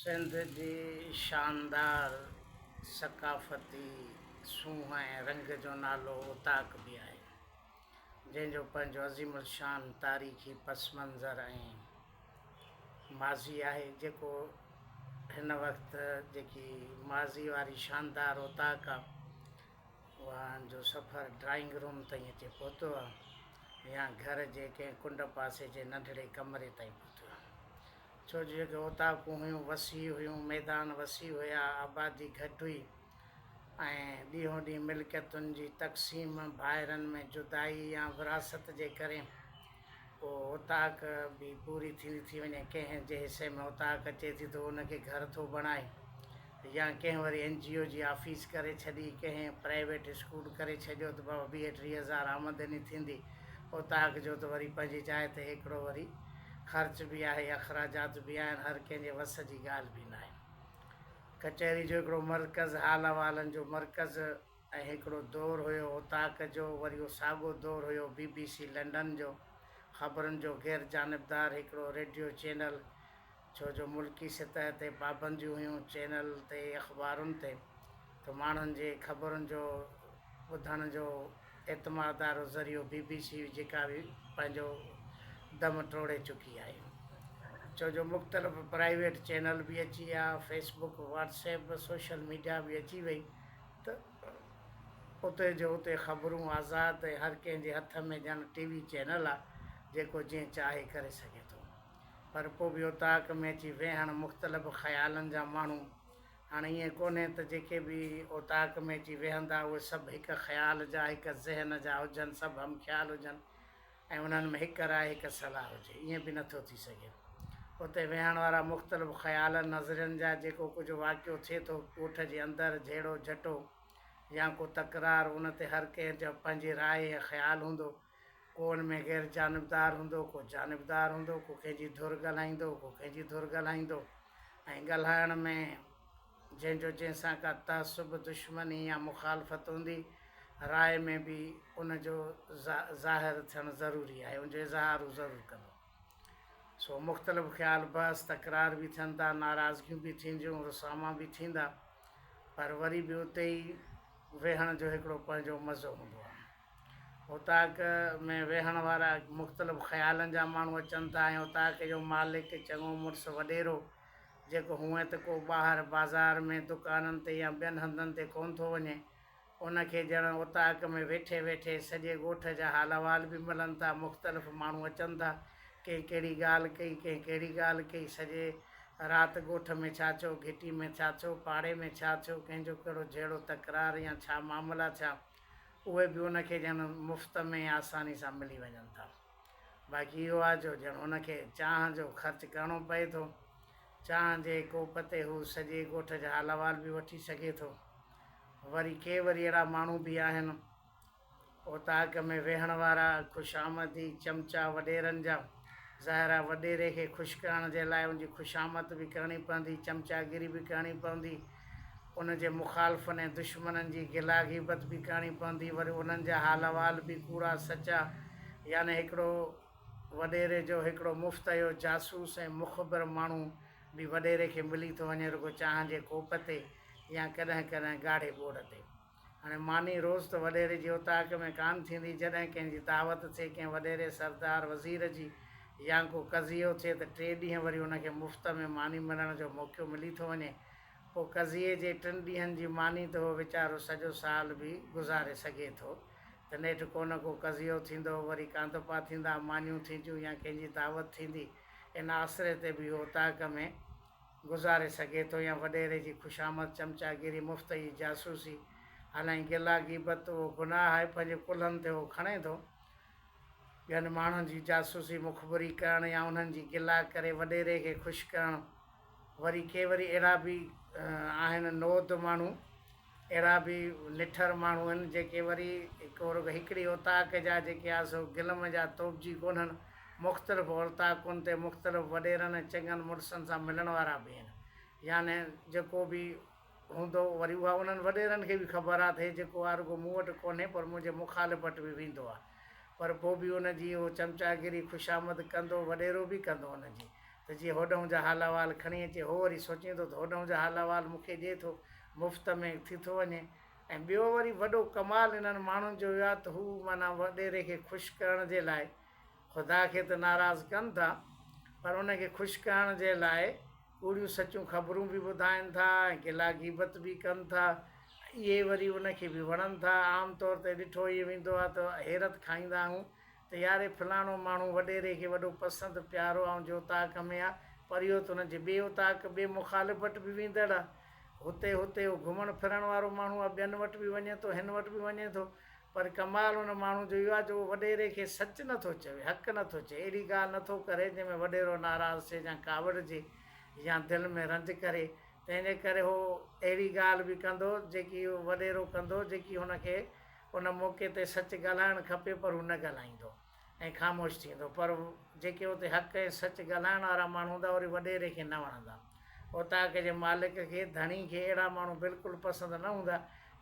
سنڌ جي شاندار ثقافتي سونهن ۽ رنگ جو نالو اوطاق به آهي، جنهن جو پنهنجو عظيم الشان تاريخي پس منظر ۽ ماضي آهي، جيڪو هن وقت جيڪي ماضي واري شاندار اوطاق اوهان جو سفر ڊرائنگ روم تائين اچي پهتو آهي يا گهر جي ڪنهن ڪنڊ پاسي جي ننڍڙي ڪمري تائين پهتو آهي ڇو جو جيڪي اوطاقون هيون وسيع هيون ميدان وسيع هيا آبادي گهٽ هئي ۽ ڏينهون ڏينهن ملڪيتن جي تقسيم ڀائرن ۾ جدائي يا وراثت جي ڪري پوء اوطاق به پوري ٿيندي ٿي وڃي. ڪنهن جي حصي ۾ اوطاق اچي ٿي ته ان کي گهر ٿو بڻائي يا ڪنهن وري اين جي او جي آفيس ڪري ڇڏي، ڪنهن پرائيويٽ اسڪول ڪري ڇڏيو ته بابا ويهه ٽيهه هزار آمدني ٿيندي اوطاق جو ته وري پنهنجي جاء تي هيڪڙو وري خرچ به آهي اخراجات به آهن هر ڪنهن جي وس جي ڳالهه به ناهي. ڪچهري جو هڪڙو مرڪز حال احوالن جو مرڪز. ۽ هڪڙو دور هيو اوطاق جو، وري اهو ساڳو دور هيو بي بي سي لنڊن جو، خبرن جو غير جانبدار هڪڙو ريڊيو چينل، ڇو جو ملڪي سطح تي پابنديون هيون چينل تي، اخبارن تي، ته ماڻهن جي خبرن جو ٻڌڻ جو اعتمادارو ذريعو بي بي سي هئي جيڪا به پنهنجو دم ٽوڙي چڪي آهي، ڇو جو مختلف پرائيويٽ چينل به اچي ويا، Facebook, WhatsApp, social media به اچي وئي، ته اتي جو اتي خبرون آزاد ۽ هر ڪنهن جي هٿ ۾ ڄڻ ٽي وي چينل آ جيڪو جئين چاهي ڪري سگهي ٿو پر پو به اوطاق ۾ اچي ويهڻ مختلف خيالن جا ماڻهو هاڻ ائين ڪونهي ته جيڪي به اوطاق ۾ اچي ويهندا اهي سڀ هڪ خيال جا هڪ ذهن جا هجن سڀ همخيال هجن ۽ انهن ۾ هڪ راء هڪ صلاح هجي، ائين به نٿو ٿي سگهي. اتي ويهڻ وارا مختلف خيالن، نظرين جا جيڪو ڪجهه واقعو ٿئي ٿو ڳوٺ جي اندر، جهيڙو جهٽو يا ڪو تڪرار، ان تي هر ڪنهن جو پنهنجي راء ۽ خيال هوندو. ڪو ان ۾ غير جانبدار هوندو، ڪو جانبدار هوندو، ڪو ڪنهن جي ڌر ڳالهائيندو، ڪو ڪنهن جي ڌر ڳالهائيندو ۽ ڳالهائڻ ۾. جنهن جو جنهن سان ڪا تعصب، دشمني يا مخالفت هوندي، راء ۾ به ان جو ظاهر ٿيڻ ضروري آهي، ان جو اظهار هو ضرور ڪندو. سو مختلف خيال، بحث، تڪرار به ٿين ٿا، ناراضگيون به ٿينديون، رساما به ٿيندا، پر وري به اتي ئي ويهڻ جو هڪڙو پنهنجو مزو هوندو آهي. اوطاق ۾ ويهڻ وارا مختلف خيالن جا ماڻهو اچن ٿا ۽ اوطاق جو مالڪ، چڱو مڙس، وڏيرو، جيڪو هونئن ته ڪو ٻاهر بازار ۾ دڪانن تي يا ٻين هنڌن تي ڪونه ٿو وڃي، ان کي ڄڻ اوطاق ۾ ويٺي ويٺي سڄي ڳوٺ جا حال احوال به ملن ٿا، مختلف ماڻهو اچن ٿا، ڪنهن ڪهڙي ڳالهه ڪئي، ڪنهن ڪهڙي ڳالهه ڪئي، سڄي رات ڳوٺ ۾ ڇا ٿيو، گهٽي ۾ ڇا ٿيو، پاڙي ۾ ڇا ٿيو، ڪنهن جو ڪهڙو جهيڙو تڪرار يا ڇا معاملا ٿيا، اهي به ان کي ڄڻ مفت ۾ آساني سان ملي وڃن ٿا. باقي اهو آهي جو ڄڻ هن کي چانهه جو خرچ ڪرڻو پئي ٿو. چانهه جي ڪوپ تي هو سڄي ڳوٺ جا حال احوال به وٺي سگهي ٿو. وري ڪي وري اهڙا ماڻهو به آهن، اوطاق ۾ ويهڻ وارا، خوش آمدي چمچا وڏيرن جا. ظاهر آهي وڏيري کي خوش ڪرڻ جي لاء ان جي خوشامد به ڪرڻي پوندي، چمچاگيري به ڪرڻي پوندي. ان جي مخالفن ۽ دشمنن جي گلا غيبت به ڪرڻي پوندي، وري انهن جا حال احوال به ڪوڙا سچا، يعني هڪڙو وڏيري جو هڪڙو مفتيو جاسوس ۽ مخبر ماڻهو به وڏيري کي ملي ٿو وڃي رڳو چانهه جي ڪوپ تي يا ڪڏهن ڪڏهن ڳاڙهي ٻوڙ تي. هاڻي ماني روز ته وڏيري جي اوطاق ۾ ڪانه ٿيندي، جڏهن ڪنهن جي دعوت ٿئي، ڪنهن وڏيري، سردار، وزير جي يا ڪو قضيو ٿئي ته ٽي ڏينهن وري ان کي مفت ۾ ماني ملڻ جو موقعو ملي ٿو وڃي. پوء قضيي جي ٽن ڏينهن جي ماني ته هو ويچارو سڄو سال به گذاري سگهي ٿو ته نيٺ ڪو نه ڪو قضيو ٿيندو، وري ڪانڌپا ٿيندا، مانيون ٿينديون يا ڪنهن جي دعوت ٿيندي، ان آسري تي به هو اوطاق ۾ گذاري سگهي ٿو يا وڏيري جي خوشامد، چمچاگيري، مفت جي جاسوسي، حالانڪ گلا، غيبت، اهو گناهه آهي، پنهنجي ڪلهن تي اهو کڻي ٿو. ٻين ماڻهن جي جاسوسي، مخبري، ڪرڻ يا انهن جي گلا ڪري وڏيري کي خوش ڪرڻ. وري ڪي وري اهڙا به آهن نوعت ماڻهو. اهڙا به نٺر ماڻهو آهن جيڪي وري هڪ رڳو هڪڙي اوطاق جا جيڪي آهن سو گلم جا توبجي ڪونهن، مختلف اوطاقن تي مختلف وڏيرن ۽ چڱن مڙسن سان ملڻ وارا به آهن. يعني جيڪو به هوندو وري اها انهن وڏيرن کي به خبر آهي ته هي جيڪو آهي رڳو مون وٽ ڪونهي پر منهنجي مخالف وٽ به ويندو آهي پر پوء به ان جي هو چمچاگيري خوشامد ڪندو وڏيرو به ڪندو ان جي ته جيئن هوڏهون جا حال احوال کڻي اچي هو وري سوچيندو ته هوڏهون جا حال احوال مون کي ڏي ٿو مفت ۾ ٿي ٿو وڃي ۽ ٻيو وري وڏو ڪمال انهن ماڻهن جو اهو آهي ته هو معنيٰ وڏيري کي خوش ڪرڻ جي لاء خدا کي ته ناراض ڪن ٿا پر ان کي خوش ڪرڻ جي لاء ڪوڙيون سچون خبرون به ٻڌائين ٿا ۽ گلا غيبت به ڪن ٿا اهي وري ان کي به وڻن ٿا عام طور تي ڏٺو اهي ويندو آهي ته حيرت کائيندا آهيون ته ياري فلاڻو ماڻهو وڏيري کي وڏو پسند پيارو آئون جي اوطاق ۾ آ پر اهو ته ان جي ٻي اوطاق ٻي مخالف وٽ به ويندڙ آ هتي هتي اهو گهمڻ ڦرڻ وارو ماڻهو آ ٻين وٽ به وڃي ٿو هن وٽ به وڃي ٿو پر ڪمال ان ماڻهو جو اهو آ جو اهو وڏيري کي سچ نه ٿو چوي حق نه ٿو چوي اهڙي ڳالهه نه ٿو ڪري جنهن ۾ وڏيرو ناراض ٿئي يا ڪاوڙجي يا دل ۾ رنج ڪري تنهن جي ڪري اهو اهڙي ڳالهه به ڪندو جيڪي وڏيرو ڪندو جيڪي هن کي ان موقعي تي سچ ڳالهائڻ کپي پر هو نه ڳالهائيندو ۽ خاموش ٿيندو پر جيڪي اتي حق ۽ سچ ڳالهائڻ وارا ماڻهو هوندا اهي وڏيري کي نه وڻندا. اوطاق جي مالڪ کي، ڌڻي کي، اهڙا ماڻهو بلڪل پسند نه هوندا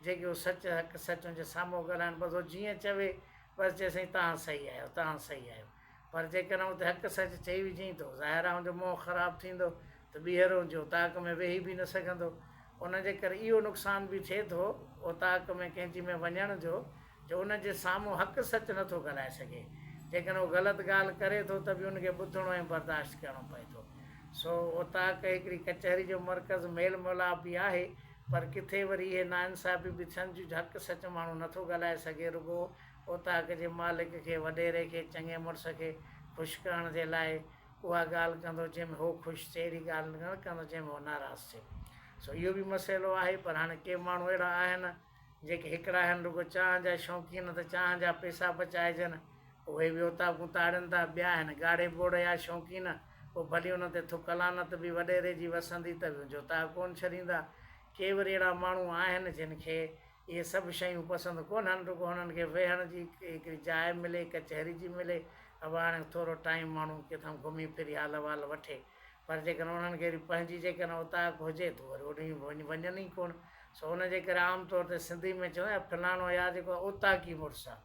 جيڪي هو سچ حق سچ ان جي سامهون ڳالهائن بس هو جيئن چوي بس چئي سائين توهان صحيح آهيو توهان صحيح آهيو. پر جيڪڏهن اتي حق سچ چئي وجهين ٿو، ظاهر آ هن جو منهن خراب ٿيندو ته ٻيهر هو جي اوطاق ۾ ويهي به نه سگهندو. ان جي ڪري اهو نقصان به ٿئي ٿو اوطاق ۾ ڪنهن جي ۾ وڃڻ جو جو ان جي سامهون حق سچ نه ٿو ڳالهائي سگهي. جيڪڏهن هو غلط ڳالهه ڪري ٿو ته به ان کي ٻڌڻو ۽ برداشت ڪرڻو پئي ٿو. سو اوطاق هڪڙي ڪچهري جو مرڪز، ميل ميلاپ به آهي، پر ڪٿي وري اهي ناانصافيون به ٿين ٿيون جو حق سچ ماڻهو نه ٿو ڳالهائي سگهي رڳو اوطاق جي مالڪ کي وڏيري کي چڱي مڙس کي خوش ڪرڻ جي لاء اها ڳالهه ڪندو جنهن ۾ هو خوش ٿئي اهڙي ڳالهه نه ڪندو جنهن ۾ هو ناراض ٿئي سو اهو به مسئلو آهي پر هاڻي ڪي ماڻهو اهڙا آهن جيڪي هڪڙا آهن رڳو چانهه جا شوقين ته چانهه جا پئسا بچائجن اهي به اوطاقون تاڙين ٿا ٻيا آهن ڳاڙهي ٻوڙ جا شوقين پوء ڀلي انهن تي ٿڪ لعنت به وڏيري جي وسندي ته به جوتا ڪونه ڇڏيندا ڪي وري اهڙا ماڻهو آهن جن کي اهي سڀ شيون پسند ڪونهن، رڳو هنن کي ويهڻ جي هڪڙي جاء ملي، ڪچهري جي ملي، اڀا هاڻي ٿورو ٽائيم ماڻهو ڪٿان گهمي ڦري حال احوال وٺي، پر جيڪڏهن انهن کي وري پنهنجي جيڪڏهن اوطاق هجي ته وري اوڏانهن وڃن ئي ڪونه، سو ان جي ڪري عام طور تي سنڌي ۾ چوندا آهن فلاڻو يا جيڪو اوطاقي مڙس آ.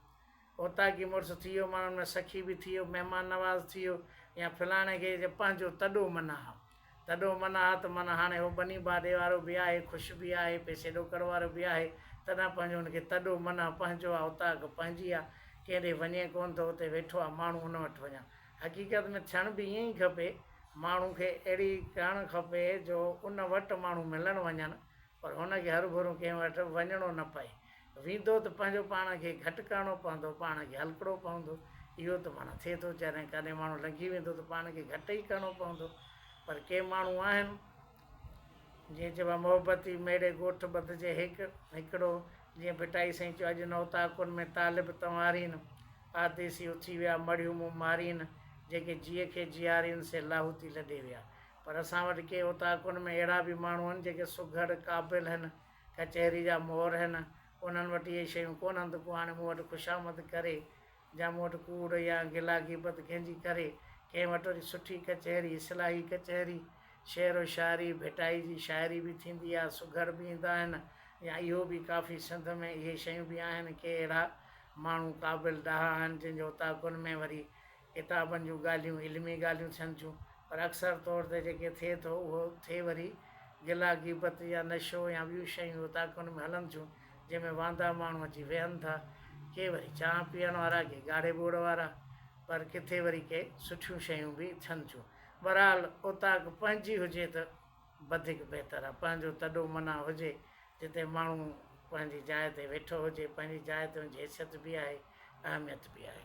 اوطاقي مڙس ٿي ويو، ماڻهن ۾ سخي به ٿي ويو، مهمان نواز ٿي ويو يا فلاڻي کي جي پنهنجو تڏو منا ها، تڏو منا ها ته معنيٰ هاڻي هو ٻني باڊي وارو به آهي، خوش به آهي، پئسي ڏوڪڙ وارو به آهي، تڏهن پنهنجو هن کي تڏو منا پنهنجو آ، اوطاق پنهنجي آ، ڪنهن ڏي وڃي ڪونه ٿو، اتي ويٺو آ، ماڻهو ان وٽ وڃن. حقيقت ۾ ٿيڻ به ائين ئي کپي، ماڻهو کي اهڙي ڪرڻ کپي جو ان وٽ ماڻهو ملڻ وڃن، پر هن کي هرڀرون ڪنهن وٽ وڃڻو نه پئي. ويندو ته پنهنجو پاڻ کي گهٽ ڪرڻو پوندو، پاڻ کي هلڪڙو پوندو. اهو ته معنيٰ ٿئي ٿو جڏهن ڪڏهن ماڻهو لنگهي ويندو ته پاڻ کي گهٽ ئي ڪرڻو پوندو. پر ڪي ماڻهو آهن، جيئن چئبو آهي محبتي ميڙي ڳوٺ ٻڌ جي هيڪ هيڪڙو، جيئن ڀٽائي سائين چيو اڄ نوتاڪن ۾ طالب تنوارين، پرديسي اٿي ويا مڙهيون مون مارين، جيڪي جيء کي جيارين سي لاهوتي لڏي ويا. پر اسان وٽ ڪي اوطاقن ۾ اهڙا به ماڻهو هن جيڪي سگهڙ، قابل، هن، ڪچهري جا مور هن، انهن وٽ اهي شيون ڪونهن ته ڪو هاڻي مون وٽ خوشامد ڪري، جا مون وٽ ڪوڙ يا گلا غيبت ڪنهن جي ڪري، ڪنهن وٽ وري سٺي ڪچهري، اصلاحي ڪچهري، شعر و شاعري، ڀٽائي جي شاعري به ٿيندي آهي، سگهڙ به ايندا آهن يا اهو به ڪافي سنڌ ۾ اهي شيون به آهن، ڪي اهڙا ماڻهو قابل ڏاها هن جن جي اوطاقن ۾ وري ڪتابن جون ڳالهيون علمي ڳالهيون ٿين ٿيون پر اڪثر طور تي جيڪي ٿئي ٿو اهو ٿئي وري گلا غيبت يا نشو يا ٻيون شيون اوطاقن ۾ هلن ٿيون جنهن ۾ واندا ماڻهو اچي ويهن ٿا ڪي وري چانهه پيئڻ وارا ڪي ڳاڙهي ٻوڙ وارا پر ڪٿي وري ڪي سٺيون شيون به ٿين ٿيون بهرحال اوطاق پنهنجي هجي ته وڌيڪ بهتر آهي پنهنجو تڏو منا هجي جتي ماڻهو پنهنجي جاء تي ويٺو هجي پنهنجي جاء تي ان جي حيثيت به آهي اهميت به آهي.